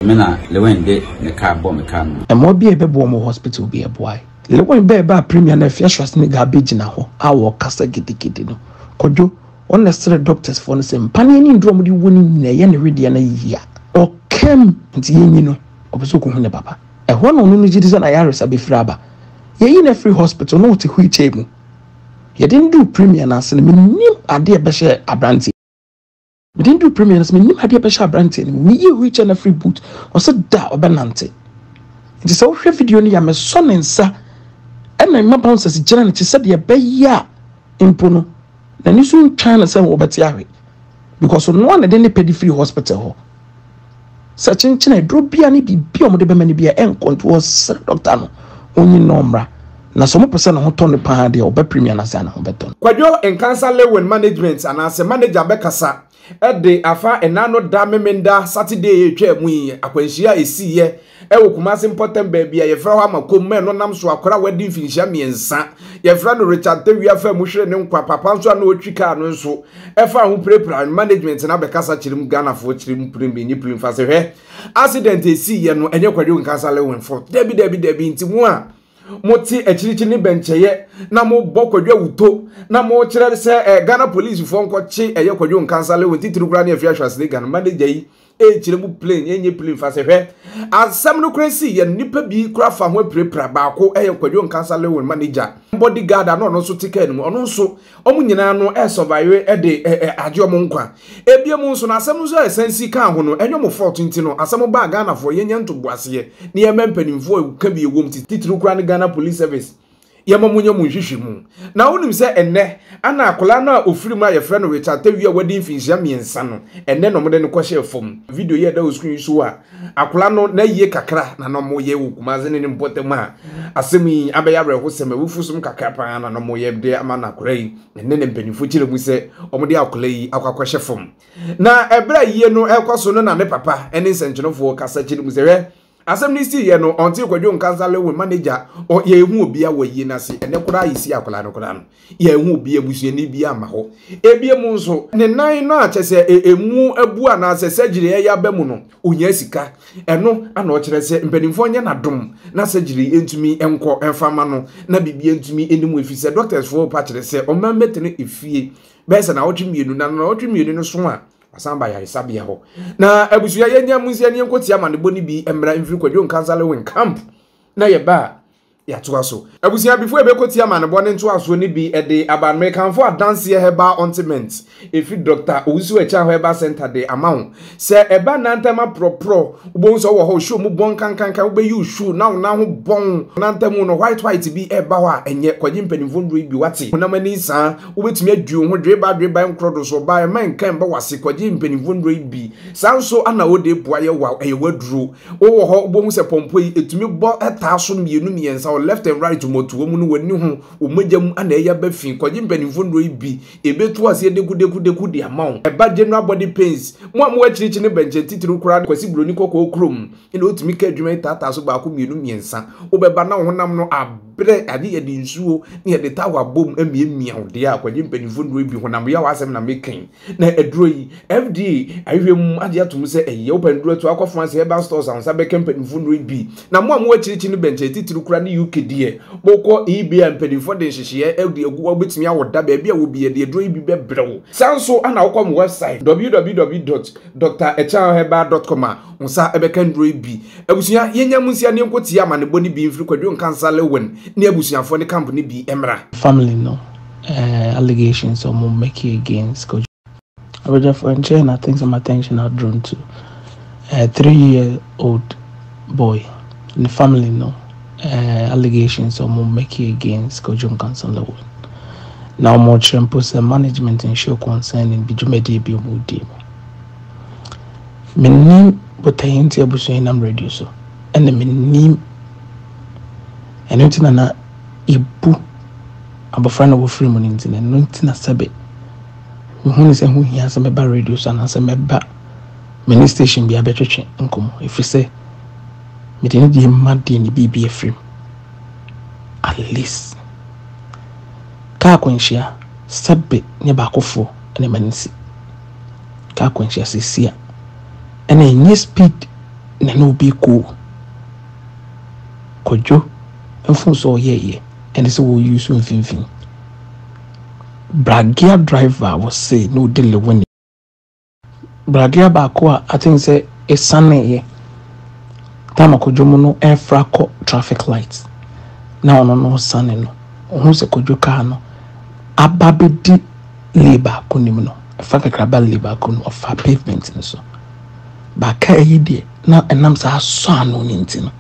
Me na Lewin de ne car bɔ me car no. Ɛma obi a ɛbɛboa wɔn wɔ hospital bi ɛboae. Lewin bɛɛ baa Premier no afie Schwarzenegger abɛgyina hɔ a ɔrekasa gidigidi no, Kwadwo, wɔn na ɛsrɛɛ doctors foɔ no sɛ mpa ne ani nduru a wɔde wɔ ne nyina ɛyɛ ne wedeɛ no ayi yia. Ɔkam nti yɛnyi no, ɔpɛ sɛ ɔkɔhu ne papa. Ɛhɔ na ɔno no gyedi sɛ n'ayaresa bɛfiri aba. Yɛyi no afiri hospital na ɔte wheelchair mu. Yɛde no duu Premier no ase no, mennim adeɛ ɛbɛhyɛɛ abranteɛ yi. Mede no duu Premier no, sɛ menim adeɛ bɛhyɛ aberanteɛ no mu. Meyii wheelchair no afiri boot, ɔsɛ da a ɔbɛnante. Nti sɛ wohwɛ video no yɛ a, mesɔ ne nsa ɛna mma bouncers gyina n'akyi sɛdeɛ ɛbɛyɛ a mpo no n'ani so ntwaa no sɛ wɔbɛte ahwe because ɔno a na ɛde ne pɛ de firi hospital hɔ. Sɛ kyenkyen a aduro biara ne biribi a wɔde bɛma no biara ɛnkɔnto hɔ sɛ dɔkta no ɔnyi no ɔmmra na sɛ wɔpɛ sɛ ne ho tɔ no paa deɛ ɔbɛ premier no ase a ne ho bɛtɔ no. Kwadwo Nkansah Lewin Management anaasɛ manager bɛkasa de afa ɛnna no da Memenda Saturday a ɛtwaa mu yi akwanhyia a ɛsiiɛ Ɛwɔ Kumase mpɔtam baabi a yɛfrɛ hɔ Amakom ma ɛno nam so akora a wadi mfinhyia mmiɛnsa. Yɛfrɛ no Richard Tewui afaa mu hweree ne nkwa, papa nso a na ɔtwi kaa no nso faa ho pirapiraa ne management no abɛkasa kyerem Ghanafoɔ kyerem prembi nye prim fase hwɛ accident a ɛsii yɛ no ɛnyɛ Kwadwo Nkansah Lewenforth dabi dabi dabi nti mo a mo te akyirikyiri ne bɛnkyɛyɛ na mo bɔ Kwadwo awuto na mo kyerɛ sɛ eh, Ghana police foɔ nkɔ kye ɛyɛ Kwadwo Nkansah Lewen titiri koraa ne afie ahwɛase ne Ghana manager yi ɛnkyerɛ mu plain ɛnyɛ plain fa sɛ hwɛ asɛm no kora si yɛ nipa bi kora fa ho apirapira baako ɛyɛ kwadwo nkasa lewin ma ne gya body guard ano ɔno nso te kaa no mu ɔno nso ɔmo nyinaa no ɛsɔvaewe ɛde agye ɔmo nkwa ebia mu nso na asɛm no nso a ɛsan si kaa ho no ɛnyɛ ɔmo fault nti no asɛm baa ghanafoɔ yɛnyɛ ntoboaseɛ ne yɛma mpanimfoɔ ɛka bi ɛwom titiriw kora ne ghana police service Yɛma mo nya mo nhwehwɛmu. Na wonim sɛ ɛnnɛ, ana akwadaa no a ɔfiri mu a yɛfrɛ no Richard Tawia a wadi mfinhyia mmiɛnsa no, ɛnnɛ na wɔde no kɔhyɛɛ fam. Video yi a ɛda wo screen yi so a akwadaa no n'ayie kakra na na wɔyɛ wɔ Kumase ne ne mpɔtam a asɛm yi abɛyɛ awerɛhosɛm, awufosom kakra pa ara na wɔyɛ de ama no akwadaa yi. Ɛnnɛ na mpanimfoɔ kyerɛ mu sɛ wɔde akwadaa yi akɔ akɔhyɛ fam. Na ɛberɛ a ayie no rekɔ so no na ne papa ne nsɛnkyerɛfoɔ kasa kyerɛ mu sɛ, hwɛ, Asɛm no sii yɛ no ɔntee kwadwo nka nsa lewe ma n'agya ɔ yɛ ehu obia wɔ ayie no ase ɛnɛ koraa yɛsi akwadaa no koraa no yɛ ehu obia abusuani bia ma hɔ ebia mu nso ne nan no a kyɛ sɛ emu abu anaasɛ surgery ɛyɛ aba mu no onyaa sika ɛno ana ɔkyerɛ sɛ mpanimfoɔ nyɛ n'adom na surgery ntumi nkɔ ɛmfa ma no na biribi ntumi anim efi sɛ doctors foɔ pa kyerɛ sɛ ɔman bɛtena efie bɛyɛ sɛ na ɔtwe mmienu na na ɔtwe mmienu no so a Wasan ba yaresabea hɔ. Na abusua yɛ nya munsi ani nko tia manebɔ ne bi mmra mfiri kwadwo nkansale wen camp. Na yɛ ba yɛatoa so. Abusua before ɛbɛkɔ tia manebɔ ne ntoasoɔ ne bi de aba no mekanfo adanseɛ herbal ontiment ɛfiri Doctor Owusu Akyaaho herbal center de ama wo. Sɛ ɛba nantam aprɔprɔ wobɛhu sɛ wowɔ hɔ wo shoe mu bɔn kankankan wobɛyi wo shoe na wo nan ho bɔn nantam no white white bi ɛba hɔ a ɛnyɛ kɔgye mpanimfoɔ nnuro yi bi wate honam ani saa wobɛtumi adi wo ho dweba dweba nkorɔ do so ɔbaa ɛma nka mba wase kɔgye mpanimfoɔ nnuro yi bi saa nso ana wode boa yɛ wa ɛyɛ waduro wowɔ hɔ wobɛhu sɛ pɔmpɔ yi ɛtumi bɔ ɛtaa so mmienu mmiɛnsa wɔ left and right mɔtoa mu no w'ani ho wo mogya mu ana ɛyɛ aba fi kɔgye mpanimfoɔ nnuro yi bi ɛbɛtu aseɛ dekudekudeku de ama wo ɛba general body pains mo a mo akyirikyi ne bɛnkyɛn titiriw koraa ne kwasi buroni kɔkɔɔ kurom ɛna wotumi ka adwuma yi taataa so baako mmienu mmiɛnsa wobɛba na wo honam no ab berɛ a ne yɛde nsuo ne yɛde tawa bom miamia wo deɛ a kwagye mpanimfoɔ nnuro bi honam yaw asɛm na mekɛn na aduro yi FDA ahwehwɛ mu agye atom sɛ ɛyɛ wopɛ nnuro ato akɔfo ase herbal stores a nsa bɛka mpanimfoɔ nnuro bi na mo a mo akyirikyi no bɛnkyɛ titiri kura ne UK deɛ mokɔ eBay a mpanimfoɔ de nhyehyɛɛ ɛde agu hɔ wobɛtumi awo da baabi a wɔbi yɛde aduro yi bi bɛbrɛ wo saa nso ana wokɔ mo website www.drachanherbal.com a nsa bɛka nnuro yi bi. Abusua, yɛnya mo nsia ne yɛnko tie amanebɔ no bi mfiri Kwadwo Nkansah Lewin ne abusuafoɔ ne camp no bi mmra. Family no eh allegations a ɔmo make against Kwadwo. Abadwafoɔ nkyɛɛ na things am attention are drawn to eh three year old boy ne family no eh allegations a ɔmo make against Kwadwo Nkansah Lewin. Na ɔmo kyerɛ mpo sɛ management nhyɛɛ concerning bi dwumadie bi ɔmo die mu. Mennim Botaeɛ nti abusua yi nam radio so ɛne mennim ɛno nti na na yɛbu abɔfra na wɔfiri mu no nti na ɛno nti na sɛbe mehu ne sɛ ho hia sɛ mɛba radio so anaasɛ mɛba mene station bia bɛtwetwe nkɔmmɔ ɛfiri sɛ mede ne deɛ ma deɛ ne biribi afiri mu at least kaa kwanhyia sɛbe ne baakofoɔ ne ma no si ka akwanhyia sisi a ɛna ɛnyɛ speed na na obi kɔ o kwadwo ɛfo sɛ ɔyɛ yɛ ɛne sɛ wɔ use mfimfini bragea driver wɔ se na ɔde lewe ne bragea baako a I think sɛ ɛsane yɛ tam akwadwo mu no ɛfra kɔ traffic light na ɔno no sane no ɔho sɛ kwadwo kaa no aba bɛdi lay baako no mu no, fa kakra ba lay baako no mu, ɔfaa pavement no so. Ba kaa yi deɛ, na ɛnam saa asɔ ano no nti no,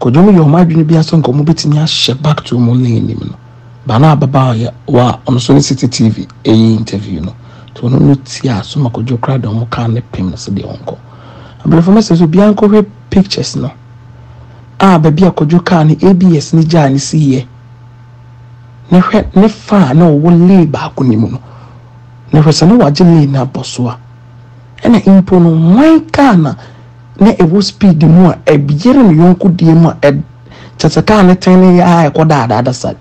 Kojo no yɛɛ wɔn adwene bi ara sɛ nka wɔbɛtumi ahyɛ back to wɔn lane no mu no, ba no a ababaa ɔyɛ wɔ a ɔno nso ne City TV ɛyɛ interview no, nti ɔno no tiaa so ma Kojo koraa de wɔn kaa no pem no sɛ deɛ ɔnkɔ. Abrɛfo no sɛ sɛ obiara nkɔhwɛ pictures no a baabi a Kojo kaa no ABS no gyaa no siiɛ. Na hwɛ, ne fã a na ɔwɔ lee baako no mu no, na hwɛ, sɛ na wagye lee no abɔ so a, ɛnna mpo no, hwan kaa na na ɛwɔ speed mu a ɛyere ne yɔnko deɛ mu a ɛ kyɛ sɛ kaa no tene yɛ a ɛkɔ daadaada saa?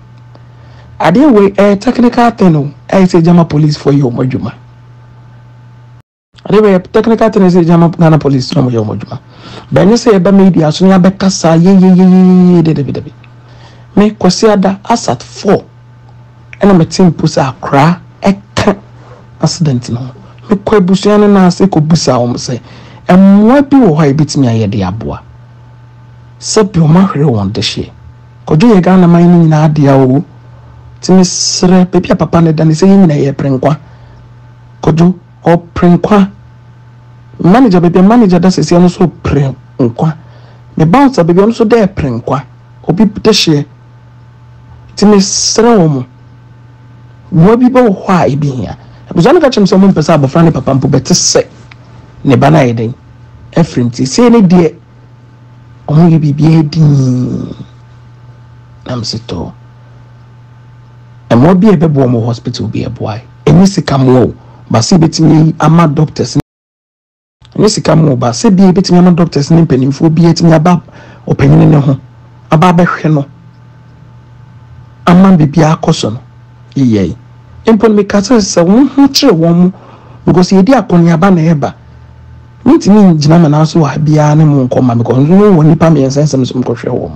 Adeɛ wei ɛyɛ technical thing o, ɛyɛ sɛ gyama policefoɔ yɛ wɔn adwuma. Ade bɛyɛ technical thing sɛ gyama Ghana police na wɔyɛ wɔn adwuma. Bɛnyɛ sɛ yɛba media so ne abɛkasa yeyeyeyeye de dabi dabi. Me Kwasi Ada asat four ɛna mete mpo sɛ akora ɛka accident no ho. Mekɔ abusua no nan ase kɔbusa wɔn sɛ mmoa bi wɔ hɔ a yɛbɛtumi ayɛ de aboa. Sɛbi wɔn ahwere wɔn dehyeɛ. Kɔdwo yɛ Ghana man no nyinaa dea o. Ti mesrɛ baabi a papa no da ne sɛ yɛn nyinaa yɛpere nkwa. Kɔdwo. Ɔpere nkwa. Manager, baabi a manager da seesei ɔno nso repere nkwa. Me bouncer baabi ɔno nso da repere nkwa. Obi dehyeɛ. Nti mesrɛ wɔn, mmoa bi bɛwɔ hɔ a ebi hia. Abusua no ka kyerɛ me sɛ wɔmpɛ sɛ abɔfra ne papa mpo bɛte sɛ ne ba no ayɛ dɛn afiri nti seesei ne deɛ wɔyɛ biribiara dinn. Na mese tɔ mmoa bi a ɛbɛboa wɔn wɔ hospital bi ɛboa ɛnyɛ sika mmoa o baasa ebetumi ama doctors ɛnyɛ sika mmoa o baasa bi ebetumi ama doctors ne mpanimfoɔ bi etumi aba ɔpanyin ne ho aba abɛhwɛ no ama biribi akɔ so no yeyɛ yi mpo no meka sɛ sɛ wɔn ho kyerɛ wɔn mo because yɛdi akɔneaba na ɛba. Mentumi ngyina me nan so wɔ ha biara ne mo nkɔ ma me kɔ nso no wɔ nnipa mmiɛnsa nsam nso me kɔ hwɛ wɔn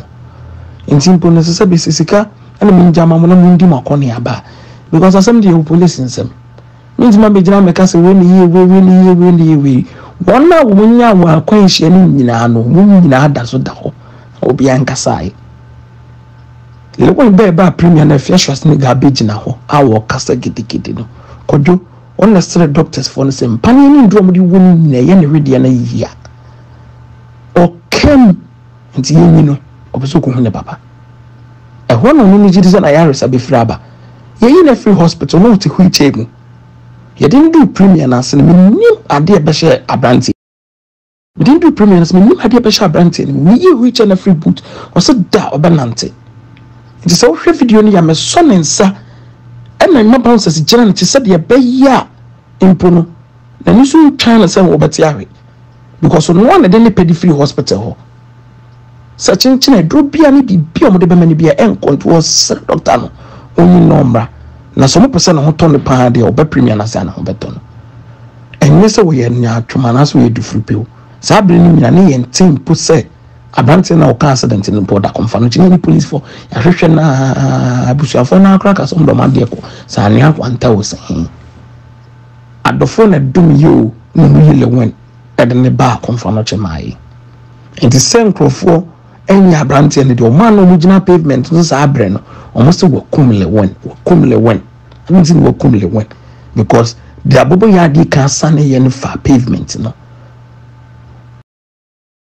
nti mpo no ɛsɛ sɛ me si sika ɛna me ngya ma mo na mo ndi mo akɔ ne aba because asɛm deɛ wɔ police nsam mentumi abɛ gyina me ka sɛ wei ne yie wei wei ne yie wei ne yie wei wɔn a wɔn nya wɔn akwan nhyia ne nyinaa no wɔn nyinaa da so da hɔ na obi ankasae Lewan bɛɛ ba premier na afia shwasini ga abɛ gyina hɔ a wɔkasa gidigidi no kɔdwo Wɔn na srɛ doctors foɔ no sɛ mpaneɛ ne nnuro a wɔde wɔ mu nyinaa ɛyɛ ne wedeɛ no ayɛ yie a, ɔka mu nti yɛnyi no, ɔpɛ sɛ ɔkɔhu ne papa. Ɛhɔ na ɔno no gye di sɛ n'ayaresa bɛfiri aba. Yɛyi no afiri hospital na ɔte wheel chair mu. Yɛde no duu premier no ase no, mennim adeɛ ɛbɛhyɛɛ aberanteɛ. Mede no duu Premier no so, mennim adeɛ bɛhyɛ aberanteɛ no mu. Meyii wheel chair no firii boot, ɔse da a ɔbɛnante. Nti sɛ wohwɛ video no yie a, mesɔ ne nsa ɛna mema bouncers gyina n'akyi sɛdeɛ ɛbɛyɛ a mpo no n'ani so ntwaa no sɛ wɔbɛte ahwe because ɔno ara na ɛde ne pɛ de firii hospital hɔ. Sɛ kyenkyen aduro biara ne biribi a wɔde bɛma no biara ɛnkɔnto hɔ, srɛ dɔkta no ɔnyi no ɔmmra. Na sɛ wɔpɛ sɛ ne ho tɔ no paa deɛ, wɔbɛpremia no ansa na wɔbɛtɔ no. Ɛnyɛ sɛ wɔyɛ nyaatwom anaasɛ wɔyɛ dufiripiw. Saa bere no nyinaa, na yɛnte mpo sɛ aberanteɛ no a ɔkaa accident no mpo, ɔda kɔmfa no kyɛ. Ne polisifo, yɛahwehwɛ no ara, abusuafoɔ no ara koraa kaa sɛ wɔn de wɔn adeɛ kɔ. Sɛ anwea kwanta o, sɛ he. Adɔfoɔ na ɛdom yɛ o, na wɔyi Lewin. de ne baa Komfanoche mae. Enti sɛ nkurɔfoɔ anya aberanteɛ no deɛ, wɔn a na wɔgyina pavement no saa berɛ no, wɔn sɛ wakum Lewin, wakum Lewin. Ɛno nti na wakum Lewin because deɛ aboboyadeɛ kan saneeɛ no faa pavement no.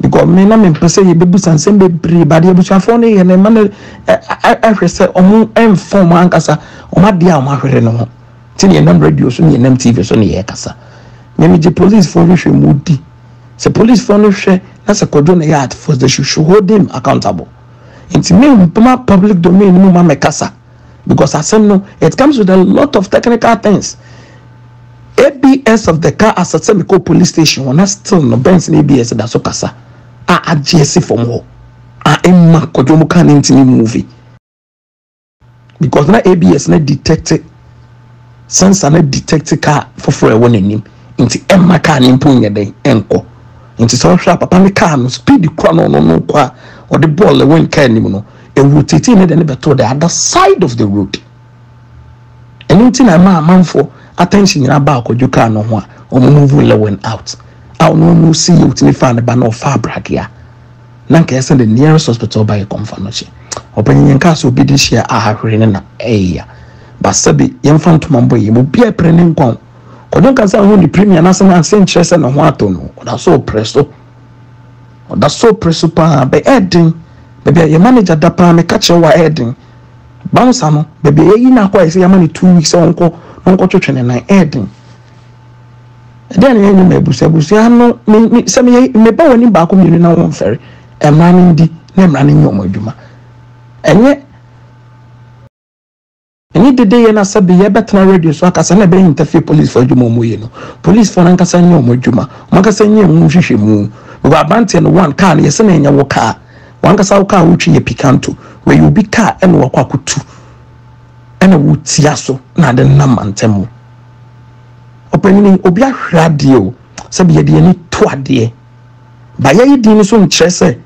Because me na me mpɛ sɛ yɛbɛbusa nsɛm bebree but abusuafoɔ no yɛ no ma no ɛhwɛ sɛ ɔmo ɛmfa ɔmo ankasa ɔmo adeɛ a ɔmo ahwere no ho nti ne yɛnam radio so ne yɛnam tv so ne yɛkasa me megye policefoɔ hwehwɛ mu di sɛ policefoɔ no hwɛ na sɛ kɔdwo no yɛ at first they should, should hold him accountable nti me mpoma public domain mu ma mɛkasa because asɛm no it comes with a lot of technical things abs of the car asɛ sɛ mekɔ police station hɔ na still no benz no abs da so kasa a agye asi fam hɔ a ɛma kɔdwo mu car no ntumi move because na abs no detect San sa na detect car foforɔ a ɛwɔ n'anim nti ɛmma car no mpo nyɛ dɛn ɛnkɔ. Nti sɛ ɔhwɛ a papa ne car no speed kura no ɔno no kɔ a ɔde bɔɔl ɛwɔ nkaa anim no ɛrotate ne de ne bɛtoo the other side of the road. Ɛno nti na ɛma amanfoɔ attention nyinaa ba akɔdwo car no ho a wɔn move Lewin out a ɔno no si yɛ otumi faa ne ba na ɔfaa bragea Na nka ɛsɛ the nearest hospital ba yɛ kɔmfa no kye ɔpanyin yɛn kaa sɛ obi de hyia a hwere ne na ɛyɛ ya ba sɛbi yɛmfa ntoma mbɔ yɛ mu obi a ɛpere ne nkwa o kɔdwo nka sɛ ho ne premier na sɛ nanse nkyerɛ sɛ ne ho atɔ no ɔda so ɔpere so ɔda so ɔpere so paa bɛ ɛden baabi a yɛ manager da paa meka kyerɛ wa ɛden bouncer no baabi a yɛyi no akɔ a yɛsɛ yɛama no two weeks sɛ ɔnkɔ na ɔnkɔtwetwe ne nan ɛden Ɛdeɛn na yɛnyɛ ma abusua abusua no me me sɛ meyɛ meba wɔn anim baako mmienu na wɔn mfɛre mmara no ndi na mmara no nyɛ wɔn adwuma ɛnyɛ ɛnyɛ dede yɛ na sɛ bi yɛbɛtena radio so akasa na ɛbɛyɛ ntafie polisifoɔ adwuma wɔn yɛ no polisifoɔ no ankasa nyɛ wɔn adwuma wɔn ankasa nyɛ wɔn nhwehwɛ mu wɔ aberanteɛ no one kaa no yɛsɛ na ɛnyɛ wɔ kaa wɔn ankasa wɔ kaa wotwi yɛ pikanto wɔyɛ obi kaa ɛna wakɔ akotu ɛna wotia so na ade nam mantam mu. Ɔpanyin, obi ahwere adeɛ o, sɛbi yɛde yɛn ani to adeɛ. Ba yɛyi din no so nkyerɛ sɛ.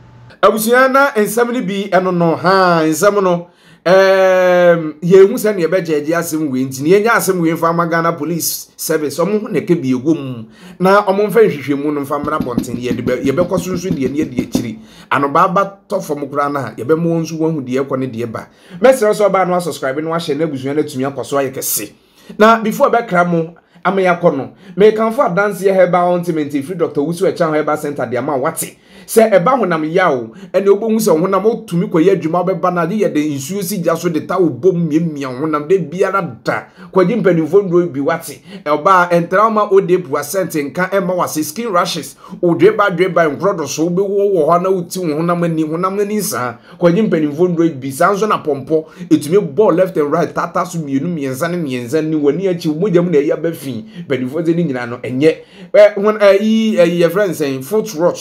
Abusua na nsɛm no bi ɛno no haa nsɛm no ɛɛm yɛn hu sɛ nea ɛbɛgyɛgye asɛm wei nti yɛn nyɛ asɛm wei nfa ama Ghana police service wɔn ho na ɛka bi ɛwɔ mu na wɔn nfa nhwehwɛmu no nfa mmra bɔnten yɛde bɛ yɛbɛkɔ so nso deɛ ne yɛde akyiri anobaa ba tɔ fam koraa no a yɛbɛma wɔn nso wɔn ho deɛ ɛkɔ ne deɛ ba mɛsrɛ sɛ ɔbaa no asubscribe no ahyɛ n'abusua no atumi akɔ so ayɛ kɛse. Na before ɛbɛkra mo ama yɛakɔ no, merekamfo adanseɛ Herbal Ointment ɛfiri Doctor Owusu Akyang Herbal Centre de ama wo. Wate? Sɛ ɛba honam yaw ɛnna wobɛhu sɛ wo honam wotumi kɔyɛ adwuma wobɛba no agye yɛ dɛ nsuo si gya so de towel bom miamia wo honam da biara da. Kɔgye mpanimfoɔ nnuro bi. Wate? Ɔbaa, ɛntra wo ma ode pua scent nka ɛmma wo ase, skin rashes, wo dweba dweba, nkorɔdɔso, wobɛwu wɔ hɔ ara na woti wo honam ani, honam ani nsaa. Akwagye mpanimfoɔ nnuro yi bi. Saa nso na pɔmpɔ. Ɛtumi bɔ left and right, taataa so mmienu, mmiɛnsa ne mmiɛnsa, ne w'ani akyi, mogya mu na ɛyɛ aba fi. Mpanimfoɔ sɛ ne nyinaa no ɛnyɛ. Wɔn ɛyi ɛyi yɛfrɛ no sɛn foot rot.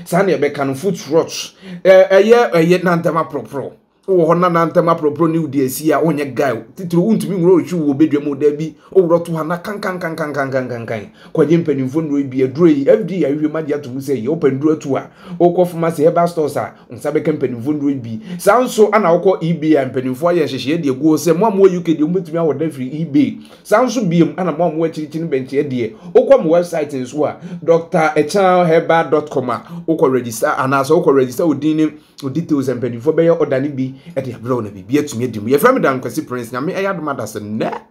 Saa na ɛbɛka no foot rot. Ɛyɛ ɛyɛ nantam aporoporo. Wɔ hɔ na nantam aporoporo ne wodi asi a ɔnyɛ gae. Titiri wontumi nwura ɔtwi wɔ bedwa mu da bi. Ɔwura to ha na kankankankankankankan. Kwagye mpanimfoɔ nnuro yi bi aduro yi FDA ahwehwɛ mu agye ato mu sɛ yɛ wopɛ nnuro atu a wokɔ pharmacy herbal stores a nsa bɛka mpanimfoɔ nnuro bi. Saa nso na wokɔ eBay a mpanimfoɔ ayɛ nhyehyɛeɛ de agu hɔ sɛ mo a mowɔ UK deɛ mobɛtumi awɔ da firi eBay. Saa nso biom na mo a mowɔ akyirikyiri bɛnkyeɛ deɛ wokɔ mo website nso a drachanherbal.com a wokɔ register anaasɛ wokɔ register wo din ne wo details a mpanimfoɔ bɛyɛ order no bi de abrɛ wo na biribi atumi adi mu. Yɛfrɛ me Dankwasi Prince. Nyame ɛyɛ adom adasɛ nnɛ.